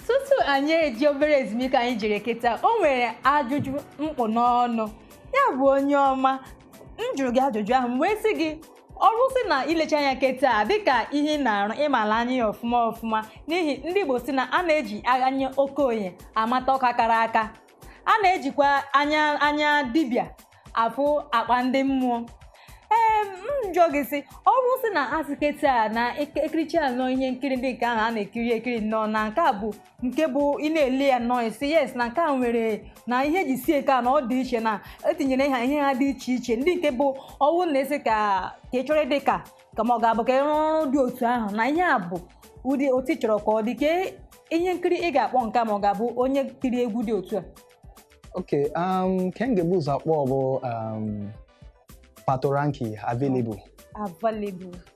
tutu anyị eje obere ezumike anyị jere kịta o nwere ajụjụ m kpụ n'ọnụ ya bụ onye ọma m jụrụ gị ajụjụ ahụ m wee sị gị ọ bụrụ sị na i lechaa anya kịta a dịka ihe ị na-arụ ị mala anya ya ọfụma ọfụma n'ihi ndị Igbo si na a na-eji anya okenye amata ọka kara aka a na-ejikwa anya dibịa afụ akpa ndị mmụọ ee m jụọ gị sị ọ bụrụ sị na a sị kịta a na eke- ekiricha nnọọ ihe nkiri ndị nke ahụ a na-ekiri ekiri nnọọ na nke a bụ nke bụ ị na-ele ya nnọọ ị sị yes na nke a nwere na ihe ji sie ka na ọ dị iche na e tinyere ha ihe ha dị iche iche ndị nke bụ ọ wụ na-esi ka ka ị chọrọ ịdị ka ka ma ọ ga-abụ ka ị rụọ ọrụ dị otu ahụ na ihe a bụ ụdị otu ị chọrọ ka ọ dị ka ihe nkiri ị ga-akpọ nke a ma ọ ga-abụ onye tiri egwu dị otu a okay um nke m ga-ebu ụzọ akpọ bụ um patoranking available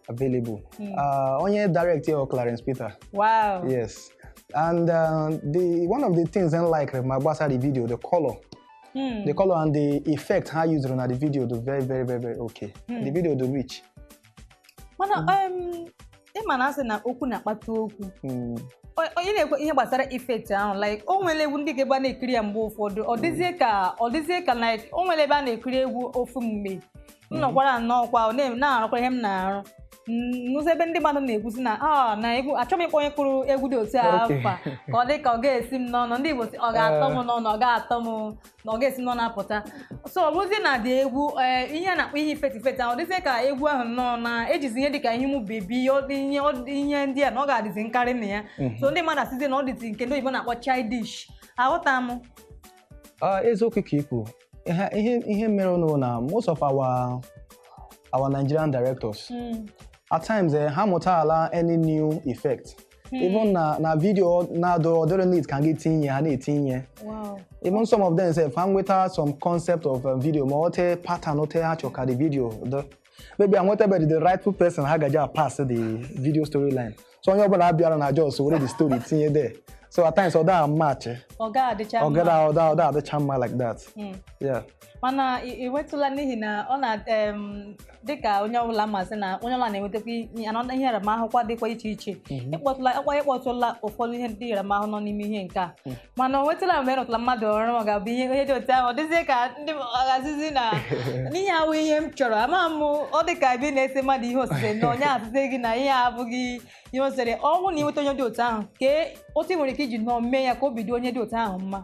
available Hmm. uh, onye direct ya bụ clarence peter wow yes and uh, the one of the things m like ma gbasara the video the color Hmm. the color and the effect ha used na the video dị very very very very okay Hmm. the video dị rich mana Mm. em, ị ma na a sị na okwu na-akpata okwu Mm. O- onye na-ekwu ihe gbasara effect ahụ like o nwere egwu ndị ga-abụ a na-ekiri ya mgbe ụfọdụ ọ dịzie ka ọ dịzie ka like o nwere ebe a na-ekiri egwu ofu mgbe m nọkwara nnọọ kwa ọ na- na-arụkwa ihe m na-arụ Mm, n'ụzọ ebe ndị mmadụ na-ekwu sị na a na egwu achọghị m ịkpọ onye kụrụ egwu dị otu a Okay. afa ka ọ dị ka ọ ga-esi m n'ọnụ ndị Igbo sị ọ ga-atọ m n'ọnụ ọ ga-atọ m na ọ ga-esi n'ọnụ apụta so ọ bụzi na ụdị egwu ee ihe a na-akpọ ihe effect effect ahụ dịzie ka egwu ahụ nnọọ na e jizi ihe dịka ihe ụmụ baby ọ dị ihe ọ dị ihe ndị a na ọ ga-adịzi nkarị na ya so ndị mmadụ asịzi na ọ dịzi nke ndị oyibo na-akpọ childish aghọta m Ah, eziokwu ka i kwu ihe ihe ihe merenụ na most of our our nigerian directors at times eh, ha mụtala any new effect Hmm. even na na video ndị ọ dịrọ need ka ha tinye ha na-etinye wow even some of them sị fa nweta some concept of um, video ma otu pattern otu ha chọ ka the video dị maybe ha enwetabe the rightful person ha gaja pass the video storyline so onye ọbụla abịara na just were the story tinye there so at times ọ da match ọ da adịcha mma ọ da adịcha mma like that hmm. yeah mana ị- ị nwetụla n'ihi na ọ na em, dịka onye ọbụla ma sị na onye ọbụla na-enwetakwa ihe nnọọ ihe nramahụkwa dịkwa iche iche Mhm. ị kpọtụlakwa ị kpọtụla ụfọdụ ihe ndị nramahụ nọ n'ime ihe nke a Mm. mana o nwetụla mgbe ị rụtụla mmadụ ọrụ ma ga-abụ ihe ihe dị otu ahụ ọ dịzie ka ndị ọ ga-asịzi na ihe a awụ ihe m chọrọ ama m ọ dị ka ebe ị na-ese mmadụ ihe osise na onye asịzi gị na ihe a abụghị ihe o sere ọ wụ na i nweta onye dị otu ahụ kee otu ị nwere ike iji nnọọ mee ya ka obi dị onye dị otu ahụ mma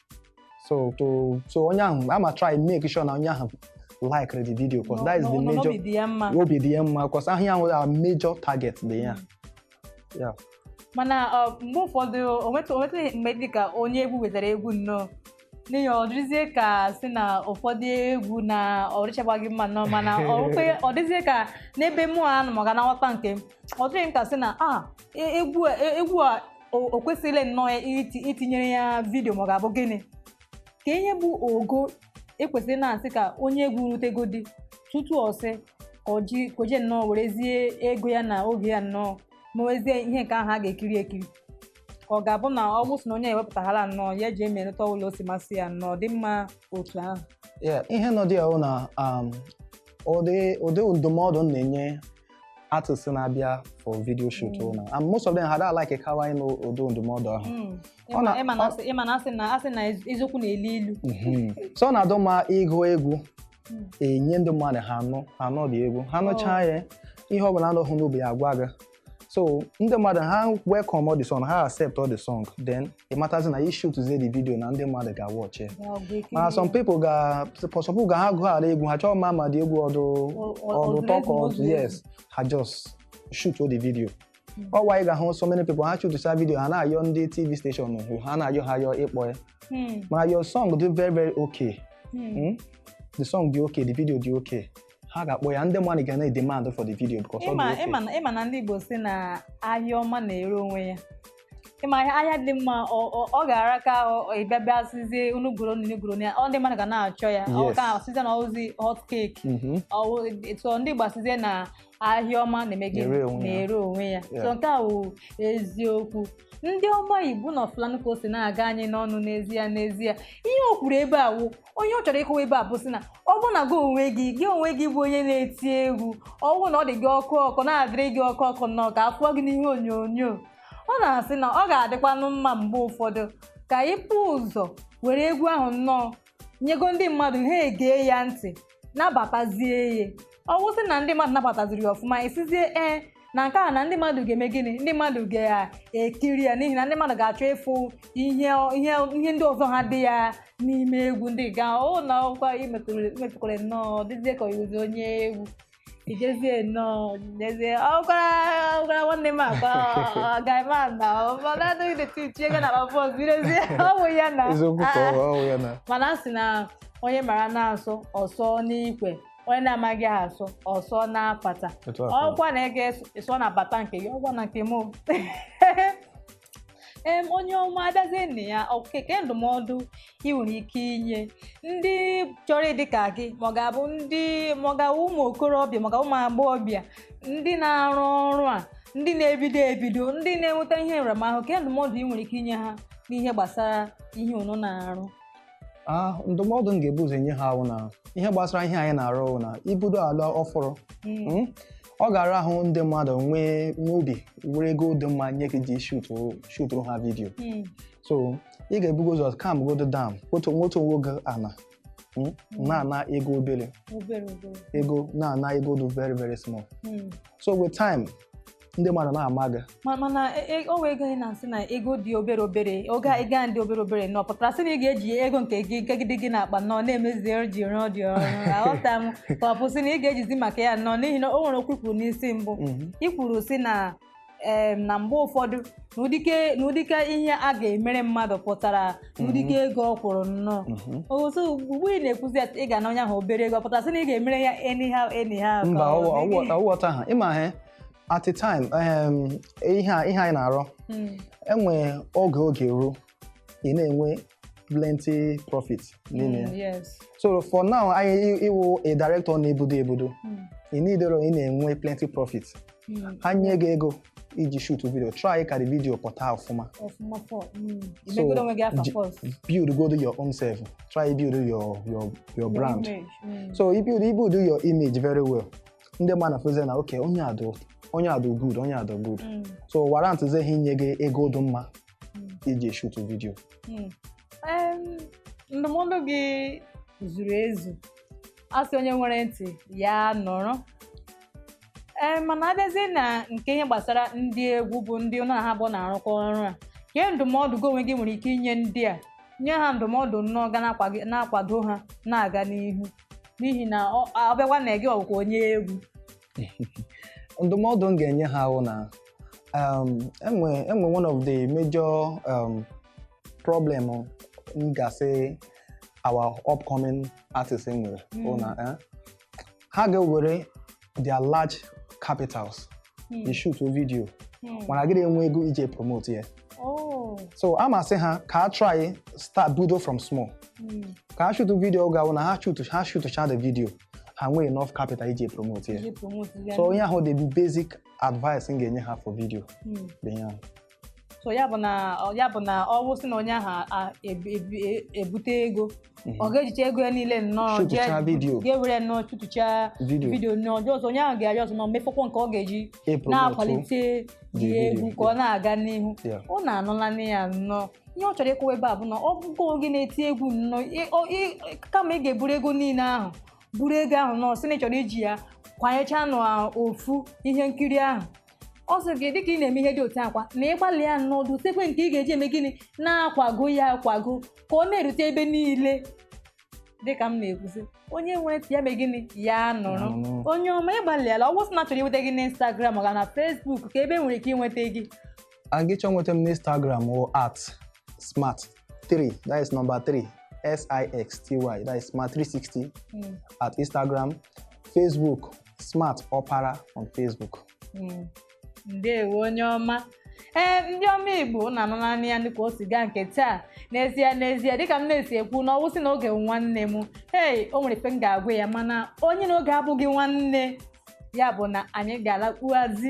so to so onye ahụ ama try make sure na onye ahụ like the video cause that is the major obi dị ya mma obi dị ya mma cause ahụ ya nwere a major target dị ya yeah mana mgbe ụfọdụ o nwetụ o nwetụ mgbe dị ka onye egwu wetara egwu nnọọ n'ihi ọ dịzie ka sị na ụfọdụ egwu na ọ dịchabaghị mma nnọọ mana ọ dịzie ka n'ebe mụ a nọ maka na nghọta nke m ọ dịghị m ka sị na a egwu a o o kwesịrị nnọọ iti itinyere ya vidio ma ọ ga-abụ gịnị ka ihe bụ ogo e kwesịrị na a sị ka onye egwu rutegodi tutu ọ sị ka o ji ka o jee nnọọ werezie ego ya na oge ya nnọọ mewezie ihe nke ahụ a ga-ekiri ekiri ka ọ ga-abụ na ọ bụ sị na onye wepụtahala nnọọ ya eji emerịta ụlọ o si masị ya nnọọ dị mma otu ahụ Yeah, ihe nọ dị ya wụ na um, ụdị ụdị ndụmọdụ m na-enye artists na-abịa for video shoot mm. na and most of them ha adị like kawa ịnụ ụdị ndụmọdụ ahụ ị ma na a sị na eziokwu na-elu ilu mm-hmm. so ọ na-adụ mma ị gụọ egwu mm. e nye ndị mmadụ ha anụ anụ the egwu ha nụchaa oh. ya ihe ọ bụla dụ ha n'obi ha agwa gị so ndị mmadụ ha welcomeọ the song ha acceptọ the song then ị matazi na i shootzie the video na ndị mmadụ ga-awatch mana some people ga for some people ga ha gụhala egwu ha achọghị ịma ma the egwu ọ dụ ọ dụ ụtọ ka ọ dụ yes ha just shoot the video ọ why ị ga-ahụ so many people ha shootcha video ha na-ayọ ndị tv station ahụ ha na-ayọ ha ayọ ịkpọ ya mana your song dị very very okay Hmm? the song dị okay the video dị okay ha ga-akpọ ya ndị mmadụ ga na-edemand for the video because ọ dị mma okay ị ma na ị ma na ndị Igbo sị na ahịa ọma na-ere onwe ya ị ma ahịa ahịa dị mma ọ- ọ- ọ ga-ara ka ọ- ị bịa bịa asịzie unu goro unu goronụ ya o ndị mmadụ ga na-achọ ya ọ Yes. ka a sịzie na ọ wụzi hot cake Mhm. so ndị Igbo asịzie na ahịa ọma na-eme gịnị Na-ere onwe ya. na-ere onwe ya Yeah. so nke a wụ eziokwu ndị ọma Igbo unu afụlanụ ka o si na-aga anyị n'ọnụ n'ezie n'ezie ihe o kwuru ebe a wụ ihe ọ chọrọ ịkọwa ebe a bụ sị na ọ bụrụ na gị onwe gị gị onwe gị bụ onye na-eti egwu ọ bụrụ na ọ dị gị ọkụ ọkụ na-adịrị gị ọkụ ọkụ nnọọ ka a fụọ gị n'ihe onyonyo ọ na-asị na ọ ga-adịkwanụ mma mgbe ụfọdụ ka i bu ụzọ were egwu ahụ nnọọ nyego ndị mmadụ ha egee ya ntị nabatazie ya ọ wụ sị na ndị mmadụ nabataziri ya ọfụma ị sịzie ee na nke a na ndị mmadụ ga-eme gịnị ndị mmadụ ga-ekiri ya n'ihi na ndị mmadụ ga-achọ ịfụ ihe ihe ihe ndị ọzọ ha dị ya n'ime egwu ndị ga o na ọ kwa i metụkwara nnọọ dịzie ka oyizi onye egwu ijezie nnọọ jezie ọkwara ọkwara nwanne m akwa gaima na mana adịghị detụ itinye ga na bọs birezie ọ wụ ya na eziokwu ka ọ bụ ya na mana a sị na onye mara asụ ọ sụọ n'ikwe onye na-amaghị ha asụ ọsọ na-apata Etu a ka ọ dị. ọkwa na ị ga-esọ na bata nke gị ọkwa na nke m o. em onye ọma abịazie na ya ke ndụmọdụ ị nwere ike inye ndị chọrọ ịdị ka gị ma ọ ga-abụ ndị ma ọ ga-abụ ụmụ okorobịa ma ọ ga-abụ ụmụ agbọghọbịa ndị na-arụ ọrụ a ndị na-ebido ebido ndị na-enweta ihe nramahụ ke ndụmọdụ ị nwere ike inye ha n'ihe gbasara ihe unu na-arụ Ah, ndụmọdụ m ga-ebu ụzọ enye ha wụ na ihe gbasara ihe anyị na-arụ bụ na ibudo ala ọfụrụ mm, ọ ga-ara ahụ ndị mmadụ nwee nwee obi were ego dị mma nye gị iji shutụrụ shutụrụ ha vidiyo Mm. so ị ga-ebugo ụzọ calmgodo down wotu wotuo onwe gị ana mm, na-ana ego obere obere obere ego na-ana ego dị very very small Mm. so with time ndị mmadụ na-ama gị Ma- mana e- e- o wee gị na nsị na ego dị obere obere oge a ego a dị obere obere na ọ pụtara sị na ị ga-eji ego nke gị nke gị dị gị n'akpa nọ na-emezi ọrụ ji rụọ dị ọrụ aghọta m ka ọ bụ sị na ị ga-ejizi maka ya nnọọ n'ihi na o nwere okwu i kwuru n'isi mbụ Mhm. i kwuru sị na em, na mgbe ụfọdụ na ụdịke na ụdịka ihe a ga-emere mmadụ pụtara na ụdịka ego ọ kwụrụ nnọọ Mhm. so ugbu ị na-ekwuzi ya ị ga-ana onye ahụ obere ego ọ pụtara sị na ị ga-emere ya anyhow anyhow ka mba ọ dịghị. ọwụghọta ha ịma ha at a time um, ihe a- ihe anyị na-arụ Mm. e nwe oge oge ruo ị na-enwe plenty profit n'ime ya Mm, yes. so for now anyị i- ị wụ a director na-ebudo ebudo Mm. ị nidero ị na-enwe plenty profit Mm. ha nye gị ego iji shoot video try ka the video pụta ọfụma Ọfụma fọ. Mm. So, Imegodo onwe gị afa ji- first. buildgodo your own self try build your your your brand Image. Mm. so if you build your image very well ndị mmadụ na-afụzi na okay onye a dụ onye a dụ good onye a dụ good Mm. so warrantzie ha inye gị ego dị mma Mm. iji shoot video Mm. Em, ndụmọdụ gị zuru ezu a sị onye nwere ntị ya nụrụ ee mana abịazie na nke ihe gbasara ndị egwu bụ ndị unu na ha bụ na-arụkọ ọrụ a ke ndụmọdụ gị onwe gị nwere ike inye ndị a nye ha ndụmọdụ nnọọ ga na-akwa- na-akwado ha na-aga n'ihu n'ihi na ọ ọ bịakwa na gị wụkwa onye egwu ndụmọdụ m ga-enye ha bụ na um, e nwe e nwe one of the major um, problem m ga-asị our upcoming artist nwere bụ na eh, ha ga-ewere their large capitals hmm. ishoot video hmm. mana ghara inwe ego iji promote ya oh. so a m asị ha ka ha try start budo from small hmm. ka ha shoot video ga na ha shoot ha shoot cha the video ha nwee enough capital iji promote ya so ọ ya wụ the basic advice m ga-enye ha for video bụ ihe ahụ so ya bụ na ya bụ na ọ wụsị na onye ahụ a- a- ebu- ebu- e- ebute ego ọ ga-ejicha ego ya niile nnọọ Shootuchaa vidio. ga-ewere nnọọ shootuchaa Vidio. vidio nnọọ ọjọọ ọzọ onye ahụ ga-arịọ ọzọ ma mefọkwa nke ọ ga-eji Ịpromotu na-akwalite the egwu video, ka ọ na-aga n'ihu Yeah. ụnụ anụlanụ ya nnọọ ihe ọ chọrọ ịkọwa ebe a bụ na ọ bụgo gị na-eti egwu nnọọ ị- ọ- ị- kama ị ga-eburu ego niile ahụ buru ego ahụ nnọọ sị na ị chọrọ iji ya kwanyechaa na ofu ihe nkiri ahụ ọ sị gị dịka ị na-eme ihe dị otu a kwa na ị gbalịa nnọọ dosekwe nke ị ga-eji eme gịnị na-akwago ya akwago ka ọ na-erute ebe niile dịka m na-ekwuzi onye nwere ntị ya mee gịnị ya nụrụ Nụrụ. onye ọma ị gbalịala ọ bụsị na a chọrọ inweta gị n'Instagram ọ ga na Facebook ka ebe e nwere ike inweta gị and gị chọọ nweta m n'instagram wụ at smart 3 that is number 3 s-i-x-t-y that is smart 360 Mm. at instagram facebook smart ọpara on facebook Mm. ndewo onye ọma ee ndị ọma igbo ụnụ anụnanị ya dịka o si gaa nke taa n'ezie n'ezie dịka m na-esi ekwu na ọwụsị na oge bụ nwanne m hei o nwere ife m ga-agwa ya mana onye na oge abụghị nwanne ya bụ na anyị ga-alakpuazi